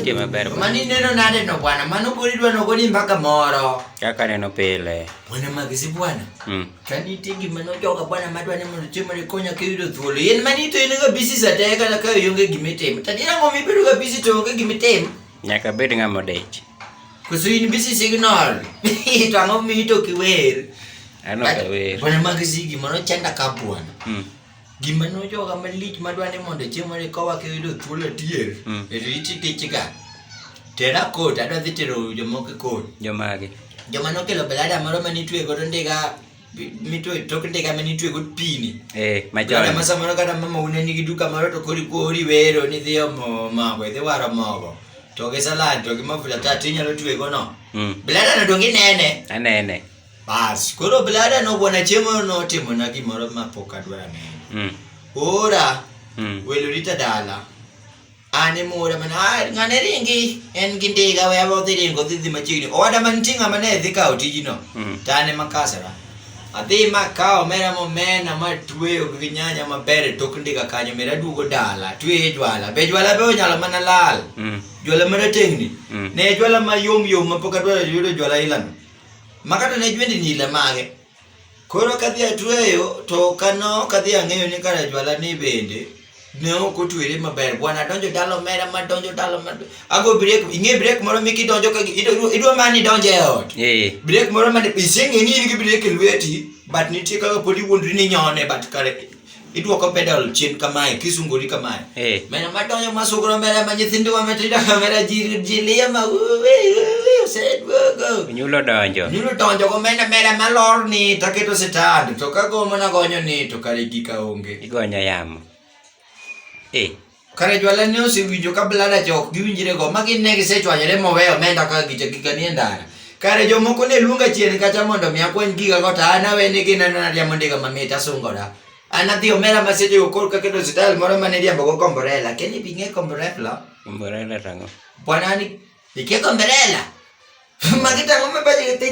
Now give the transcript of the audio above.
nitie maber. Mano ineno nade no bwana? Mano pod idwa nogo ni mpaka moro. Kaka neno pile. Bwana magisi bwana. Mm. Kani nitie gima nojoga bwana madwa ni mondo chiemo ni konya ka yudo thuolo. Yien mani to in ga busy sate kata ka onge gima itimo. Tadi nango mibedo ga busy to onge gima itimo. Nyaka bed ng'ama odich. Koso in bisi signal. To ang'o mi to kiwer? Ano ka wer. Bwana mag sigi mano chanda ka bwana. Mm. Gima no joga malich madwa ni mondo chiemo ni kowa ke yudo thuolo tier. Mm. E riti tichga. Tera kot adwa dhi tero jomoko kot. Jomage. Joma nokelo belada moro mane itwe godo ndiga mito tok ndega mane itwego pini eh majana ma samoro kata mama une nigi duka moro to kori kori wero ni dhi omo mago idhi waro mogo to gi salad to gi mafuta ta ti nyalo twego no mm. blada no dongi nene anene bas koro blada no bwana chiemo no timo na gimoro ma pok adwara nene mm. ora mm. welo rita dala Ani mura man ah ngane ringi en gi ndiga we abo dhi ringo dhi dhi machiegni owada man tinga mane dhi kawo tijino mm. tane makasara adhi makawo mera momena ma tweyo gi nyanya maber e tok ndiga kanyo mera duogo dala tweyo jwala be jwala be onyalo mana lal mm. jwala mera tengni mm. ne jwala ma yom yom ma pok adwaro yudo jwala ilano makata ne jwendi nila mage Koro kadhi atweyo to kano kadhi ang'eyo ni kare jwala ni bende ne ok otwere maber bwana donjo dalo mera ma donjo dalo ma ago break ing'e break moro mi kidonjo ka idwa mani donjo e ot eh. break moro ma iseng'e ni in gi break e lweti but nitie kaka pod iwuondri ni nyone but kare Idwoko pedal chien kamae, kisungori kamae. Eh. Mena madonyo masugro mera ma nyithindo wa matindo kamera ji ji liya ma oseduogo. Nyulo donjo. Nyulo donjo go mena mera malor ni taketo sitand to kagomo nagonyo ni to kare gika onge. Igonyo yamo. Eh. Kare jwala ne osewinjo ka blada cha ok giwinjre go ma gin ne gisechwanyore moweyo omenda ka gicha gika ni e ndara. Kare jomoko ne luonga chien kacha mondo mi akwany giga go to an awene gi neno na riambo ndiga mamit asungora. An adhi omera ma seche go koro kaketo style moro ma ne riambo go komborela. Ken ni bing'e komborela? Mborela tango. Bwana ni iketho komborela. Magi tango ma baje gi